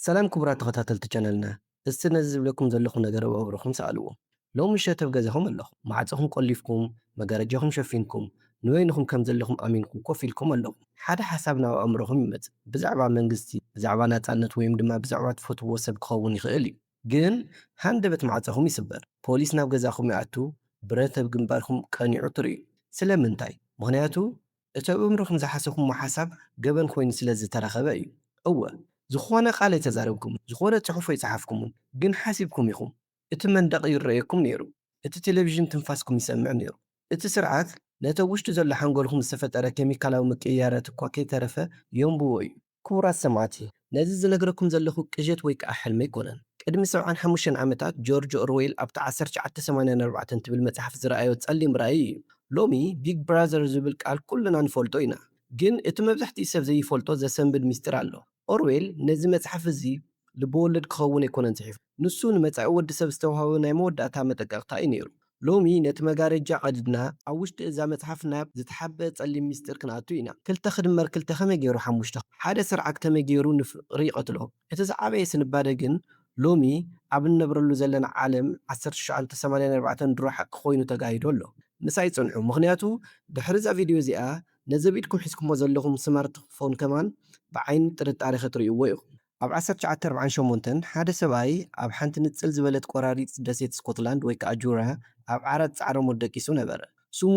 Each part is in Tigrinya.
ሰላም ክቡራት ተኸታተልቲ ቻነልና እስቲ ነዚ ዝብለኩም ዘለኹ ነገር ኣብ ኣእምሮኹም ሰኣልዎ ሎሚ ምሸት ኣብ ገዛኹም ኣለኹም ማዕጾኹም ቆሊፍኩም መጋረጃኹም ሸፊንኩም ንበይንኹም ከም ዘለኹም ኣሚንኩም ኮፍ ኢልኩም ኣለኹም ሓደ ሓሳብ ናብ ኣእምሮኹም ይመጽእ ብዛዕባ መንግስቲ ብዛዕባ ናጻነት ወይም ድማ ብዛዕባ ትፈትውዎ ሰብ ክኸውን ይኽእል እዩ ግን ሃንደበት ማዕጾኹም ይስበር ፖሊስ ናብ ገዛኹም ይኣቱ ብረት ኣብ ግንባርኩም ቀኒዑ ትርእዩ ስለምንታይ ምኽንያቱ እቲ ኣብ እምሮኹም ዝሓሰብኩሞ ሓሳብ ገበን ኮይኑ ስለ ዝተረኸበ እዩ። እወ፣ ዝኾነ ቃል ኣይተዛረብኩምን፣ ዝኾነ ጽሑፍ ኣይጸሓፍኩምን፣ ግን ሓሲብኩም ኢኹም። እቲ መንደቕ ይረኣየኩም ነይሩ፣ እቲ ቴሌቪዥን ትንፋስኩም ይሰምዕ ነይሩ። እቲ ስርዓት ነቲ ኣብ ውሽጢ ዘሎ ሓንጎልኩም ዝተፈጠረ ኬሚካላዊ ምቅይያራት እኳ ከይተረፈ የንብቦ እዩ። ክቡራት ሰማዕቲ፣ ነዚ ዝነግረኩም ዘለኹ ቅዠት ወይ ከኣ ሕልሚ ኣይኮነን። ቅድሚ ሰብዓን ሓሙሽተን ዓመታት ጆርጅ ኦርዌል ኣብታ ዓሰርተ ትሽዓተ ሰማንያን ኣርባዕተን ትብል መጽሓፍ ዝረኣዮ ጸሊም ራእይ እዩ። ሎሚ ቢግ ብራዘር ዝብል ቃል ኩልና ንፈልጦ ኢና። ግን እቲ መብዛሕትኡ ሰብ ዘይፈልጦ ዘሰንብድ ምስጢር ኣሎ። ኦርዌል ነዚ መጽሓፍ እዚ ልበወለድ ክኸውን ኣይኮነን ጽሒፉ። ንሱ ንመጻኢ ወዲ ሰብ ዝተዋህበ ናይ መወዳእታ መጠንቀቕታ እዩ ነይሩ። ሎሚ ነቲ መጋረጃ ቀዲድና ኣብ ውሽጢ እዛ መጽሓፍ ናብ ዝተሓብኤ ጸሊም ምስጢር ክንኣቱ ኢና። ክልተ ክድመር ክልተ ከመይ ገይሩ ሓሙሽተ፣ ሓደ ስርዓት ከመይ ገይሩ ንፍቕሪ ይቐትሎ። እቲ ዝዓበየ ስንባደ ግን ሎሚ ኣብ እንነብረሉ ዘለና ዓለም ዓሰርተ ትሽዓተ ሰማንያ ኣርባዕተ ድሮ ሓቂ ኮይኑ ተጋሂዱ ኣሎ። ምሳይ ጽንሑ ምኽንያቱ ድሕሪ እዛ ቪድዮ እዚኣ ነዚ ኣብ ኢድኩም ሒዝኩሞ ዘለኹም ስማርት ፎን ከማን ብዓይኒ ጥርጣሬ ክትርእይዎ ኢኹም። ኣብ ዓሰርተ ትሽዓተ ኣርብዓን ሸሞንተን፣ ሓደ ሰብኣይ ኣብ ሓንቲ ንጽል ዝበለት ቈራሪት ደሴት ስኮትላንድ ወይ ከኣ ጁራ ኣብ ዓራት ጻዕረ ሞት ደቂሱ ነበረ። ስሙ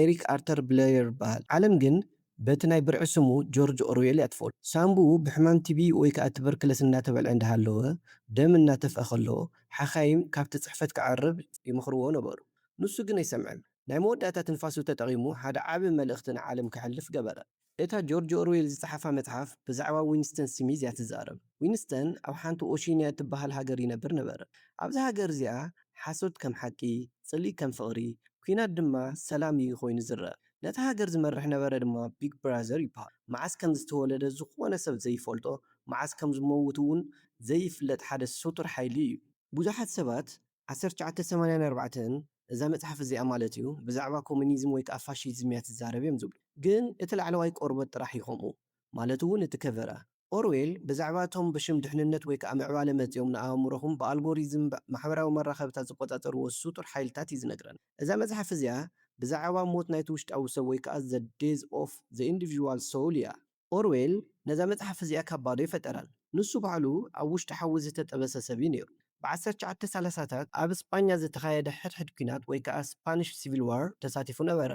ኤሪክ ኣርተር ብለየር ይበሃል። ዓለም ግን በቲ ናይ ብርዒ ስሙ ጆርጅ ኦርዌል እያ ትፈልጦ። ሳንቡኡ ብሕማም ቲቢ ወይ ከኣ ቱበርክለስ እናተበልዐ እንዳሃለወ፣ ደም እናተፍኣ ከሎ፣ ሓካይም ካብቲ ጽሕፈት ክዓርብ ይመኽርዎ ነበሩ። ንሱ ግን ኣይሰምዐን። ናይ መወዳእታ ትንፋሱ ተጠቒሙ ሓደ ዓቢ መልእኽቲ ንዓለም ከሕልፍ ገበረ። እታ ጆርጅ ኦርዌል ዝጸሓፋ መጽሓፍ ብዛዕባ ዊንስተን ስሚዝ እያ ትዛረብ። ዊንስተን ኣብ ሓንቲ ኦሺንያ እትበሃል ሃገር ይነብር ነበረ። ኣብዛ ሃገር እዚኣ ሓሶት ከም ሓቂ፣ ጽልኢ ከም ፍቕሪ፣ ኲናት ድማ ሰላም እዩ ኮይኑ ዝረኣ። ነታ ሃገር ዝመርሕ ነበረ ድማ ቢግ ብራዘር ይበሃል። መዓስ ከም ዝተወለደ ዝኾነ ሰብ ዘይፈልጦ፣ መዓስ ከም ዝመውት እውን ዘይፍለጥ ሓደ ስቱር ሓይሊ እዩ። ብዙሓት ሰባት ዓሰርተ ትሽዓተ ሰማንያን ኣርባዕተን እዛ መጽሓፍ እዚኣ ማለት እዩ ብዛዕባ ኮሚኒዝም ወይ ከኣ ፋሺዝም እያ ትዛረብ እዮም ዝብሉ። ግን እቲ ላዕለዋይ ቆርበት ጥራሕ እዩ ከምኡ ማለት እውን እቲ ከቨራ። ኦርዌል ብዛዕባ እቶም ብሽም ድሕንነት ወይ ከኣ ምዕባለ መጺኦም ንኣእምሮኹም ብኣልጎሪዝም ማሕበራዊ መራኸብታት ዝቆጻጸርዎ ስጡር ሓይልታት እዩ ዝነግረና። እዛ መጽሓፍ እዚኣ ብዛዕባ ሞት ናይቲ ውሽጣዊ ሰብ ወይ ከኣ the death of the individual soul እያ። ኦርዌል ነዛ መጽሓፍ እዚኣ ካብ ባዶ ኣይፈጠራን። ንሱ ባዕሉ ኣብ ውሽጢ ሓዊ ዝተጠበሰ ሰብ እዩ ነይሩ። ብዓሰርተ ትሽዓተ ሰላሳታት ኣብ ስጳኛ ዝተኻየደ ሕድሕድ ኲናት ወይ ከኣ ስፓኒሽ ሲቪል ዋር ተሳቲፉ ነበረ።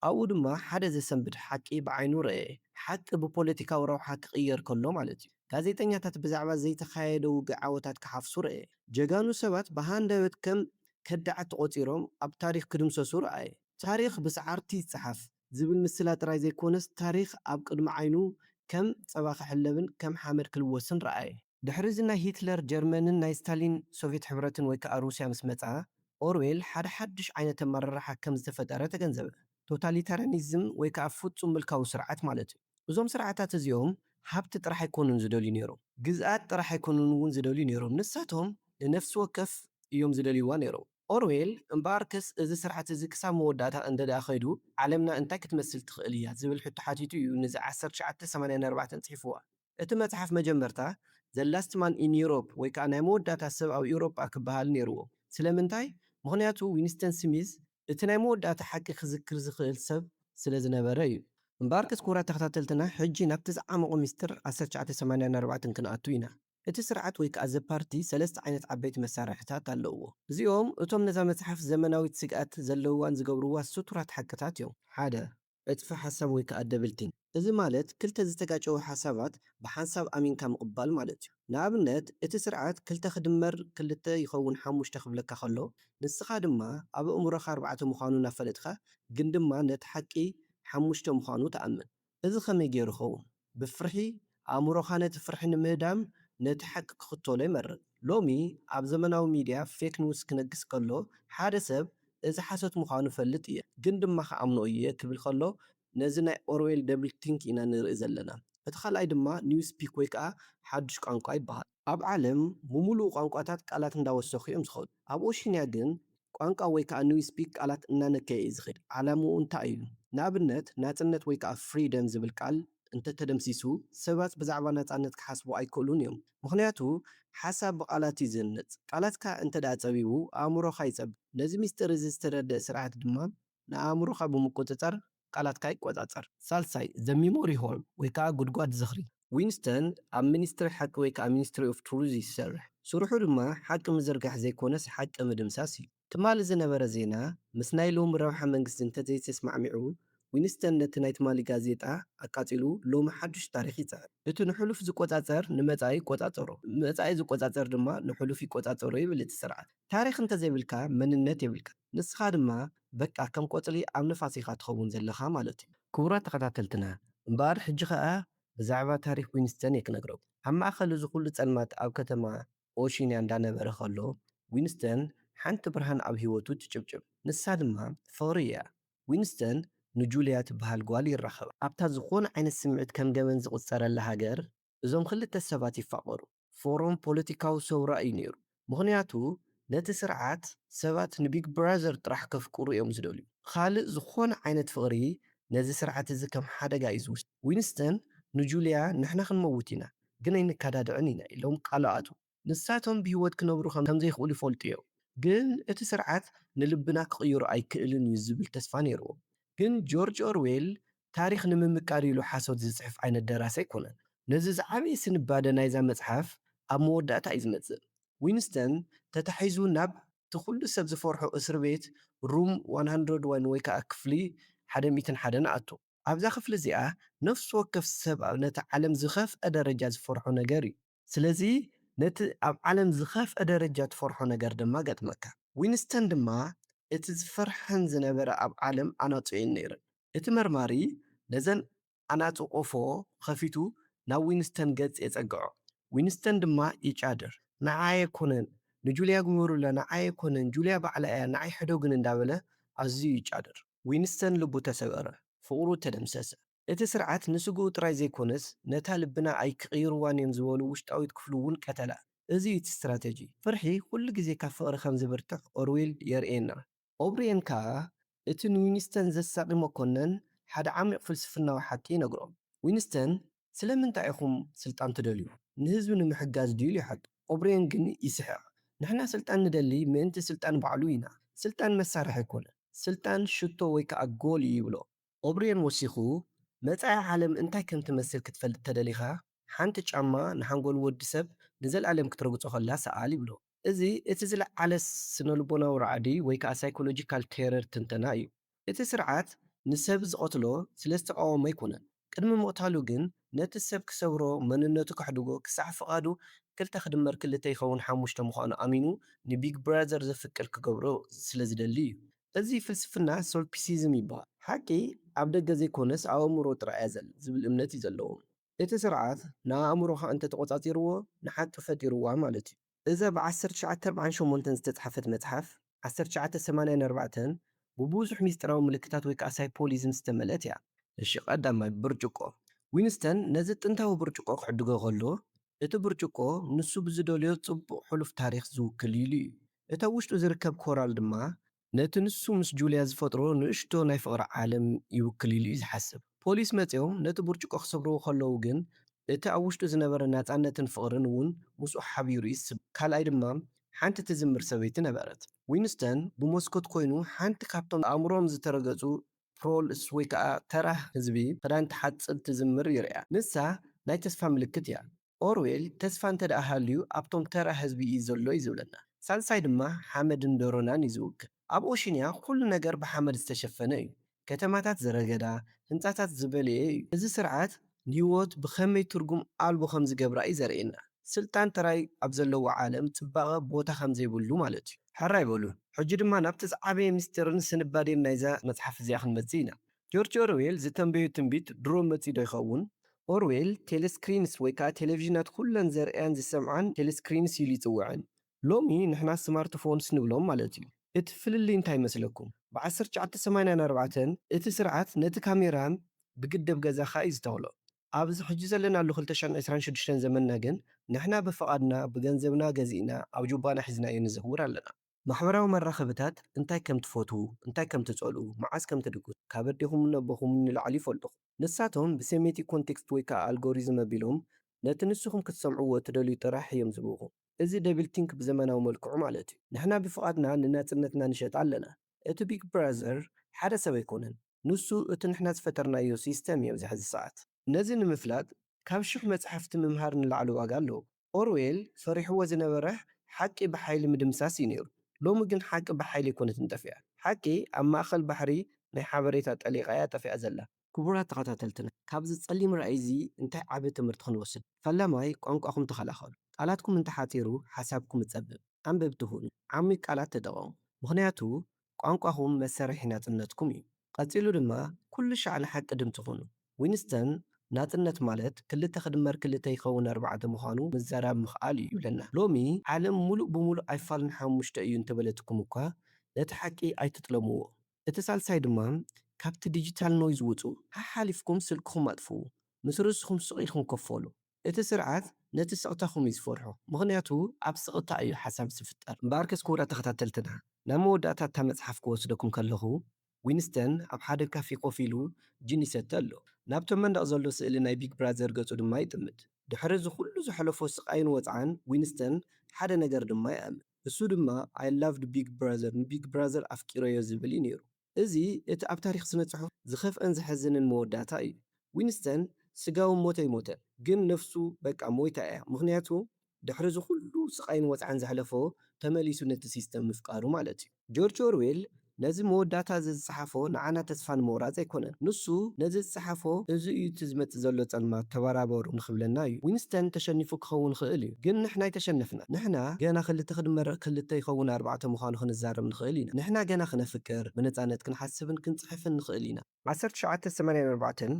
ኣብኡ ድማ ሓደ ዘሰንብድ ሓቂ ብዓይኑ ረኣየ። ሓቂ ብፖለቲካዊ ረብሓ ክቕየር ከሎ ማለት እዩ። ጋዜጠኛታት ብዛዕባ ዘይተኻየደ ውግእ ዓወታት ክሓፍሱ ረኣየ። ጀጋኑ ሰባት ብሃንደበት ከም ከዳዓት ተቖጺሮም ኣብ ታሪኽ ክድምሰሱ ረኣየ። ታሪኽ ብሰዓርቲ ይጸሓፍ። ዝብል ምስላ ጥራይ ዘይኮነስ ታሪኽ ኣብ ቅድሚ ዓይኑ ከም ጸባ ክሕለብን ከም ሓመድ ክልወስን ረኣየ። ድሕሪ'ዚ ናይ ሂትለር ጀርመንን ናይ ስታሊን ሶቭየት ሕብረትን ወይ ከኣ ሩስያ ምስ መጽኣ፣ ኦርዌል ሓደ ሓድሽ ዓይነት ኣመራርሓ ከም ዝተፈጠረ ተገንዘበ። ቶታሊታርያኒዝም ወይ ከኣ ፍጹም ምልካዊ ስርዓት ማለት'ዩ። እዞም ስርዓታት እዚኦም ሃብቲ ጥራሕ ኣይኮኑን ዝደልዩ ነይሮም። ግዝኣት ጥራሕ ኣይኮኑን'ውን ዝደልዩ ነይሮም። ንሳቶም ንነፍሲ ወከፍ እዮም ዝደልይዋ ነይሮም። ኦርዌል እምበኣርከስ እዚ ስርዓት እዚ ክሳብ መወዳእታ እንተድኣ ከይዱ ዓለምና እንታይ ክትመስል ትኽእል እያ ዝብል ሕቶ ሓቲቱ እዩ ንዛ ዓሰርተ ትሽዓተ ሰማንያ ኣርባዕተ ጽሒፍዋ። እቲ መጽሓፍ መጀመርታ The Last Man in Europe ወይ ከኣ ናይ መወዳእታ ሰብ ኣብ ኤውሮጳ ክበሃል ነይርዎ። ስለምንታይ? ምኽንያቱ ዊንስተን ስሚዝ እቲ ናይ መወዳእታ ሓቂ ክዝክር ዝኽእል ሰብ ስለ ዝነበረ እዩ። እምበኣርከስ ክቡራት ተኸታተልትና ሕጂ ናብቲ ዝዓመቝ ምስጢር ዓሰርተ ትሽዓተ ሰማንያ ኣርባዕተ ክንኣቱ ኢና። እቲ ስርዓት ወይ ከኣ እዚ ፓርቲ ሰለስተ ዓይነት ዓበይቲ መሳርሒታት ኣለዉዎ። እዚኦም እቶም ነዛ መጽሓፍ ዘመናዊት ስግኣት ዘለዉዋን ዝገብርዋ ስቱራት ሓቅታት እዮም። ሓደ፣ ዕጽፊ ሓሳብ ወይ ከኣ ደብልቲንግ፣ እዚ ማለት ክልተ ዝተጋጨዉ ሓሳባት ብሓንሳብ ኣሚንካ ምቕባል ማለት እዩ። ንኣብነት እቲ ስርዓት ክልተ ክድመር ክልተ ይኸውን ሓሙሽተ ክብለካ ከሎ ንስኻ ድማ ኣብ ኣእምሮኻ ኣርባዕተ ምዃኑ እናፈለጥካ ግን ድማ ነቲ ሓቂ ሓሙሽተ ምዃኑ ትኣምን። እዚ ኸመይ ገይሩ ይኸውን? ብፍርሒ፣ ኣእምሮኻ ነቲ ፍርሒ ንምህዳም ነቲ ሓቂ ክኽተሎ ይመርጽ። ሎሚ ኣብ ዘመናዊ ሚድያ ፌክ ኒውስ ክነግስ ከሎ፣ ሓደ ሰብ እዚ ሓሶት ምዃኑ እፈልጥ እየ ግን ድማ ክኣምኖ እየ ክብል ከሎ ነዚ ናይ ኦርዌል ደብልቲንክ ኢና ንርኢ ዘለና። እቲ ካልኣይ ድማ ኒውስፒክ ወይ ከኣ ሓዱሽ ቋንቋ ይበሃል። ኣብ ዓለም ብምሉኡ ቋንቋታት ቃላት እንዳወሰኹ እዮም ዝኸዱ። ኣብ ኦሺንያ ግን ቋንቋ ወይ ከኣ ኒው ስፒክ ቃላት እናነከየ እዩ ዝኸድ። ዓላምኡ እንታይ እዩ? ንኣብነት ናጽነት ወይ ከኣ ፍሪደም ዝብል ቃል እንተተደምሲሱ ሰባት ብዛዕባ ናጻነት ክሓስቡ ኣይክእሉን እዮም። ምኽንያቱ ሓሳብ ብቓላት እዩ ዝህነጽ። ቃላትካ እንተድኣ ጸቢቡ ኣእምሮኻ ይጸብብ። ነዚ ምስጢር እዚ ዝተረድእ ስርዓት ድማ ንኣእምሮኻ ብምቁጽጻር ቃላትካ ይቆጻጸር። ሳልሳይ፣ The Memory Hole ወይ ከኣ ጉድጓድ ዝኽሪ። ዊንስተን ኣብ ሚኒስትሪ ሓቂ ወይ ከኣ ሚኒስትሪ ኦፍ ትሩዝ እዩ ዝሰርሕ። ስርሑ ድማ ሓቂ ምዝርጋሕ ዘይኮነስ ሓቂ ምድምሳስ እዩ። ትማሊ ዝነበረ ዜና ምስ ናይ ሎሚ ረብሓ መንግስቲ እንተዘይተስማዕሚዑ፣ ዊንስተን ነቲ ናይ ትማሊ ጋዜጣ ኣቃጺሉ ሎሚ ሓዱሽ ታሪኽ ይጽሕፍ። እቲ ንሕሉፍ ዝቆጻጸር ንመጻኢ ይቆጻጸሮ፣ መጻኢ ዝቆጻጸር ድማ ንሕሉፍ ይቆጻጸሮ ይብል እቲ ስርዓት። ታሪኽ እንተዘይብልካ መንነት የብልካን። ንስኻ ድማ በቃ ከም ቆጽሊ ኣብ ንፋስ ኢኻ ትኸውን ዘለኻ ማለት እዩ። ክቡራት ተኸታተልትና እምበኣር ሕጂ ከኣ ብዛዕባ ታሪኽ ዊንስተን እየ ክነግረኩም። ኣብ ማእከል እዚ ኩሉ ጸልማት ኣብ ከተማ ኦሺንያ እንዳነበረ ከሎ ዊንስተን ሓንቲ ብርሃን ኣብ ህይወቱ ትጭብጭብ። ንሳ ድማ ፍቕሪ እያ። ዊንስተን ንጁልያ ትበሃል ጓል ይራኸባ። ኣብታ ዝኾነ ዓይነት ስምዒት ከም ገበን ዝቑጸረላ ሃገር እዞም ክልተ ሰባት ይፋቐሩ። ፎረም ፖለቲካዊ ሰውራ እዩ ነይሩ። ምኽንያቱ ነቲ ስርዓት ሰባት ንቢግ ብራዘር ጥራሕ ከፍቅሩ እዮም ዝደልዩ። ኻልእ ዝኾነ ዓይነት ፍቕሪ ነዚ ስርዓት እዚ ከም ሓደጋ እዩ ዝውሰድ። ዊንስተን ንጁልያ ንሕና ክንመውት ኢና ግን ኣይንካዳድዕን ኢና ኢሎም ቃሉ ኣትዉ። ንሳቶም ብህይወት ክነብሩ ከም ዘይክእሉ ይፈልጡ ኢዮም፣ ግን እቲ ስርዓት ንልብና ክቕይሮ ኣይክእልን ኢዩ ዝብል ተስፋ ነይርዎም። ግን ጆርጅ ኦርዌል ታሪኽ ንምምቃር ኢሉ ሓሶት ዝጽሕፍ ዓይነት ደራሲ ኣይኮነን። ነዚ ዝዓበየ ስንባደ ናይዛ መጽሓፍ ኣብ መወዳእታ ኢዩ ዝመጽእ። ዊንስተን ተታሒዙ ናብ እቲ ኩሉ ሰብ ዝፈርሖ እስርቤት ሩም ዋን ሃንድረድ ዋን ወይ ከኣ ክፍሊ ሓደ ሚእትን ሓደን ኣቱ። ኣብዛ ክፍሊ እዚኣ ነፍሲ ወከፍ ሰብ ነቲ ዓለም ዝኸፍኣ ደረጃ ዝፈርሖ ነገር ኢዩ። ስለዚ ነቲ ኣብ ዓለም ዝኸፍኣ ደረጃ ትፈርሖ ነገር ድማ ገጥመካ። ዊንስተን ድማ እቲ ዝፈርሐን ዝነበረ ኣብ ዓለም ኣናጹ እየን ነይረን። እቲ መርማሪ ነዘን ኣናጹ ቆፎ ኸፊቱ ናብ ዊንስተን ገጽ የጸግዖ። ዊንስተን ድማ ይጫድር። ንዓይ ኣይኮነን ንጁልያ ግበሩላ ንዓይ ኣይኮነን ጁልያ ባዕላ እያ ንዓይ ሕደጉኒ እንዳበለ ኣዝዩ ይጫድር። ዊንስተን ልቡ ተሰበረ። ፍቕሩ ተደምሰሰ። እቲ ስርዓት ንስግኡ ጥራይ ዘይኮነስ ነታ ልብና ኣይክቕይርዋን እዮም ዝበሉ ውሽጣዊት ክፍሉ እውን ቀተላ። እዚ እዩ እቲ ስትራተጂ። ፍርሒ ኩሉ ግዜ ካብ ፍቕሪ ከም ዝብርትዕ ኦርዌል የርእየና። ኦብርየን ከኣ እቲ ንዊንስተን ዘሳቒ መኮነን ሓደ ዓሚቕ ፍልስፍናዊ ሓቂ ይነግሮ። ዊንስተን ስለምንታይ ኢኹም ስልጣን ትደልዩ? ንህዝቢ ንምሕጋዝ ድዩ? ኢሉ ይሓቶ። ኦብርየን ግን ይስሕቕ። ንሕና ስልጣን ንደሊ ምእንቲ ስልጣን ባዕሉ ኢና። ስልጣን መሳርሒ ኣይኮነን። ስልጣን ሽቶ ወይ ከኣ ጎል እዩ ይብሎ። ኦብርየን ወሲኹ፣ መጻኢ ዓለም እንታይ ከም ትመስል ክትፈልጥ ተደሊኻ፣ ሓንቲ ጫማ ንሓንጎል ወዲ ሰብ ንዘልኣለም ክትረግጾ ከላ ሰኣል ይብሎ። እዚ እቲ ዝለዓለ ስነልቦናዊ ራዕዲ ወይ ከኣ ሳይኮሎጂካል ቴረር ትንተና እዩ። እቲ ስርዓት ንሰብ ዝቐትሎ ስለዝተቓወሞ ኣይኮነን፣ ቅድሚ ምቕታሉ ግን ነቲ ሰብ ክሰብሮ፣ መንነቱ ከሕድጎ፣ ክሳዕ ፍቓዱ ክልተ ክድመር ክልተ ይኸውን ሓሙሽተ ምዃኑ ኣሚኑ ንቢግ ብራዘር ዘፍቅር ክገብሮ ስለ ዝደሊ እዩ። እዚ ፍልስፍና ሶልፒሲዝም ይበሃል። ሓቂ ኣብ ደገ ዘይኮነስ ኣብ ኣእምሮ ጥራይ እያ ዘላ ዝብል እምነት እዩ ዘለዎም። እቲ ስርዓት ንኣእምሮኻ እንተ ተቖጻጺርዎ ንሓቂ ፈጢርዋ ማለት እዩ። እዛ ብ ዓሰርተ ትሽዓተ ኣርብዓን ሸሞንተን ዝተጽሓፈት መጽሓፍ፣ ዓሰርተ ትሽዓተ ሰማንያን ኣርባዕተን፣ ብብዙሕ ምስጢራዊ ምልክታት ወይ ከኣ ሳይፖሊዝም ዝተመልእት እያ። እሺ ቀዳማይ፣ ብርጭቆ። ዊንስተን ነዚ ጥንታዊ ብርጭቆ ክዕድጎ ከሎ፣ እቲ ብርጭቆ ንሱ ብዝደልዮ ጽቡቕ ሕሉፍ ታሪኽ ዝውክል ኢሉ እዩ። እቲ ኣብ ውሽጡ ዝርከብ ኮራል ድማ ነቲ ንሱ ምስ ጁልያ ዝፈጥሮ ንእሽቶ ናይ ፍቕሪ ዓለም ይውክል ኢሉ'ዩ ዝሓስብ። ፖሊስ መጺኦም ነቲ ብርጭቆ ክሰብርዎ ከለዉ ግን፣ እቲ ኣብ ውሽጡ ዝነበረ ናጻነትን ፍቕርን እውን ምስኡ ሓቢሩ'ዩ ዝስበር። ካልኣይ ድማ ሓንቲ ትዝምር ሰበይቲ ነበረት። ዊንስተን ብመስኮት ኰይኑ ሓንቲ ካብቶም ኣእምሮኦም ዝተረገጹ ፕሮልስ ወይ ከኣ ተራ ህዝቢ፣ ክዳን ትሓጽብ ትዝምር ይርእያ። ንሳ ናይ ተስፋ ምልክት እያ። ኦርዌል ተስፋ እንተድኣ ሃልዩ ኣብቶም ተራ ህዝቢ እዩ ዘሎ እዩ ዝብለና። ሳልሳይ ድማ ሓመድን ደሮናን እዩ ዝውክል። ኣብ ኦሽንያ ኩሉ ነገር ብሓመድ ዝተሸፈነ እዩ። ከተማታት ዝረገዳ፣ ህንጻታት ዝበለየ እዩ። እዚ ስርዓት ንህይወት ብኸመይ ትርጉም ኣልቦ ከም ዝገብራ እዩ ዘርእየና። ስልጣን ጥራይ ኣብ ዘለዎ ዓለም ጽባቐ ቦታ ከም ዘይብሉ ማለት እዩ። ሕራይ በሉ ሕጂ ድማ ናብቲ ዝዓበየ ምስጢርን ስንባዴን ናይዛ መጽሓፍ እዚኣ ክንመጽእ ኢና። ጆርጅ ኦርዌል ዝተንበዮ ትንቢት ድሮ መጺኡዶ ይኸውን? ኦርዌል፣ ቴለስክሪንስ ወይ ከኣ ቴለቪዥናት ኩለን ዘርእያን ዝሰምዓን ቴለስክሪንስ ኢሉ ይጽውዐን። ሎሚ ንሕና ስማርትፎንስ ንብሎም ማለት እዩ። እቲ ፍልልይ እንታይ ይመስለኩም? ብ ዓሰርተ ትሽዓተ ሰማንያን ኣርባዕተን እቲ ስርዓት ነቲ ካሜራ ብግደብ ገዛኻ እዩ ዝተኽሎ። ኣብዚ ሕጂ ዘለናሉ ክልተ ሽሕን ዕስራን ሽዱሽተን ዘመንና ግን ንሕና ብፍቓድና ብገንዘብና ገዚእና ኣብ ጁባና ሒዝናዮ ንዘውር ኣለና። ማሕበራዊ መራኸብታት እንታይ ከም ትፈትዉ፣ እንታይ ከም ትጸልኡ፣ መዓስ ከም ትድቅሱ፣ ካብ ኣዴኹምን ኣቦኹምን ንላዕሊ ይፈልጡኹም። ንሳቶም ብሴሜቲክ ኮንቴክስት ወይ ከኣ ኣልጎሪዝም ኣቢሎም ነቲ ንስኹም ክትሰምዕዎ እትደልዩ ጥራሕ እዮም ዝህብኹም። እዚ ደብል ቲንክ ብዘመናዊ መልክዑ ማለት እዩ። ንሕና ብፍቓድና ንናጽነትና ንሸጣ ኣለና። እቲ ቢግ ብራዘር ሓደ ሰብ ኣይኮነን። ንሱ እቲ ንሕና ዝፈጠርናዮ ሲስተም እዩ ኣብዚ ሕዚ ሰዓት። ነዚ ንምፍላጥ ካብ ሽሕ መጻሕፍቲ ምምሃር ንላዕሊ ዋጋ ኣለዎ። ኦርዌል ፈሪሕዎ ዝነበረ ሓቂ ብሓይሊ ምድምሳስ እዩ ነይሩ። ሎሚ ግን ሓቂ ብሓይሊ ኣይኮነትን ጠፊኣ። ሓቂ ኣብ ማእከል ባሕሪ ናይ ሓበሬታ ጠሊቓ እያ ጠፊኣ ዘላ። ክቡራት ተኸታተልትና ካብዚ ጸሊም ራእይ እዚ እንታይ ዓቢ ትምህርቲ ክንወስድ? ፈላማይ ቋንቋኹም ተኸላኸሉ። ቃላትኩም እንተሓጺሩ ሓሳብኩም እጸብብ። ኣንበብቲ ኹኑ። ዓሚቕ ቃላት ተጠቐሙ። ምኽንያቱ ቋንቋኹም መሰሪሒ ናጽነትኩም እዩ። ቀጺሉ ድማ ኩሉ ሻዕ ንሓቂ ድምጺ ኩኑ። ዊንስተን ናጽነት ማለት ክልተ ክድመር ክልተ ይኸውን ኣርባዕተ ምዃኑ ምዘራብ ምኽኣል እዩ ይብለና። ሎሚ ዓለም ሙሉእ ብሙሉእ ኣይፋልን ሓሙሽተ እዩ እንተበለትኩም እኳ ነቲ ሓቂ ኣይትጥለምዎ። እቲ ሳልሳይ ድማ ካብቲ ዲጂታል ኖይዝ ውጹ። ሓሓሊፍኩም ስልክኹም ኣጥፍኡ። ምስ ርእስኹም ስቕ ኢልኩም ኮፍ በሉ። እቲ ስርዓት ነቲ ስቕታኹም እዩ ዝፈርሖ ምኽንያቱ ኣብ ስቕታ እዩ ሓሳብ ዝፍጠር። እምበኣርከስ ክቡራት ተኸታተልትና ናብ መወዳእታ እታ መጽሓፍ ክወስደኩም ከለኹ ዊንስተን ኣብ ሓደ ካፌ ኮፍ ኢሉ ጂን ይሰቲ ኣሎ። ናብቶም መንደቕ ዘሎ ስእሊ ናይ ቢግ ብራዘር ገጹ ድማ ይጥምት። ድሕሪ እዚ ኩሉ ዘሕለፎ ስቓይን ወጽዓን ዊንስተን ሓደ ነገር ድማ ይኣምን። እሱ ድማ I loved Big Brother ንቢግ ብራዘር ኣፍቂረዮ ዝብል እዩ ነይሩ። እዚ እቲ ኣብ ታሪኽ ስነ-ጽሑፍ ዝኸፍኣን ዘሕዝንን መወዳእታ እዩ። ዊንስተን ስጋዊ ሞት ኣይሞተን፣ ግን ነፍሱ በቃ ሞይታ እያ፣ ምኽንያቱ ድሕሪ እዚ ኹሉ ስቓይን ወጽዓን ዘሕለፎ ተመሊሱ ነቲ ሲስተም ምፍቃሩ ማለት እዩ። ጆርጅ ኦርዌል ነዚ መወዳእታ እዚ ዝጸሓፎ ንዓና ተስፋ ንምቑራጽ ኣይኮነን። ንሱ ነዚ ዝጸሓፎ እዚ እዩ እቲ ዝመጽእ ዘሎ ጸልማት ተበራበሩ ንኽብለና እዩ። ዊንስተን ተሸኒፉ ክኸውን ይኽእል እዩ፣ ግን ንሕና ኣይተሸነፍናን። ንሕና ገና ክልተ ክድመር ክልተ ይኸውን ኣርባዕተ ምዃኑ ክንዛረብ ንኽእል ኢና። ንሕና ገና ክነፍቅር፣ ብነጻነት ክንሓስብን ክንጽሕፍን ንኽእል ኢና። ዓሰርተ ትሽዓተ ሰማንያን ኣርባዕተን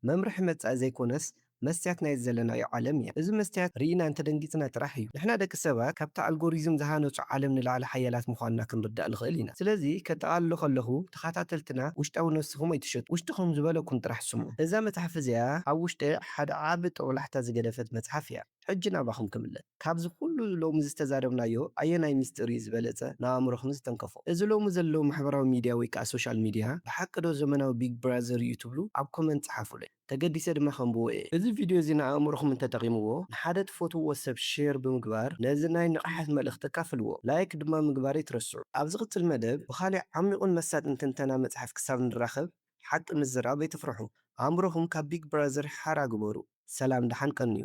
መምርሒ መጻኢ ዘይኮነስ መስትያት ናይዚ ዘለናዮ ዓለም እያ። እዚ መስትያት ርኢና እንተደንጊጽና ጥራሕ እዩ ንሕና ደቂ ሰባት ካብቲ ኣልጎሪዝም ዝሃነጹ ዓለም ንላዕሊ ሓያላት ምዃንና ክንርዳእ ንኽእል ኢና። ስለዚ ከጠቓልሎ ከለኹ ተኻታተልትና ውሽጣዊ ነብስኹም ኣይትሸጡ። ውሽጥኹም ዝበለኩም ጥራሕ ስምዑ። እዛ መጽሓፍ እዚኣ ኣብ ውሽጠይ ሓደ ዓቢ ጦብላሕታ ዝገደፈት መጽሓፍ እያ። ሕጂ ናባኹም ክምለስ። ካብዚ ኩሉ ሎሚ ዝተዛረብናዮ ኣየናይ ምስጢር እዩ ዝበለጸ ንኣእምሮኹም ዝተንከፎ? እዚ ሎሚ ዘሎ ማሕበራዊ ሚድያ ወይ ከኣ ሶሻል ሚድያ ብሓቂ ዶ ዘመናዊ ቢግ ብራዘር እዩ ትብሉ? ኣብ ኮመንት ጸሓፉለይ ተገዲሰ ድማ ከንብቦ እየ። እዚ ቪድዮ እዚ ንኣእምሮኹም እንተጠቒምዎ ንሓደ ትፈትውዎ ሰብ ሼር ብምግባር ነዚ ናይ ንቕሓት መልእኽቲ ኣካፍልዎ። ላይክ ድማ ምግባር ኣይትረስዑ። ኣብ ዝቕጽል መደብ ብኻልእ ዓሚቝን መሳጥን ትንተና መጽሓፍ ክሳብ ንራኸብ ሓቂ ምዝራብ ኣይትፍርሑ ኣእምሮኹም ካብ ቢግ ብራዘር ሓራ ግበሩ። ሰላም ደሓን ቀንዩ።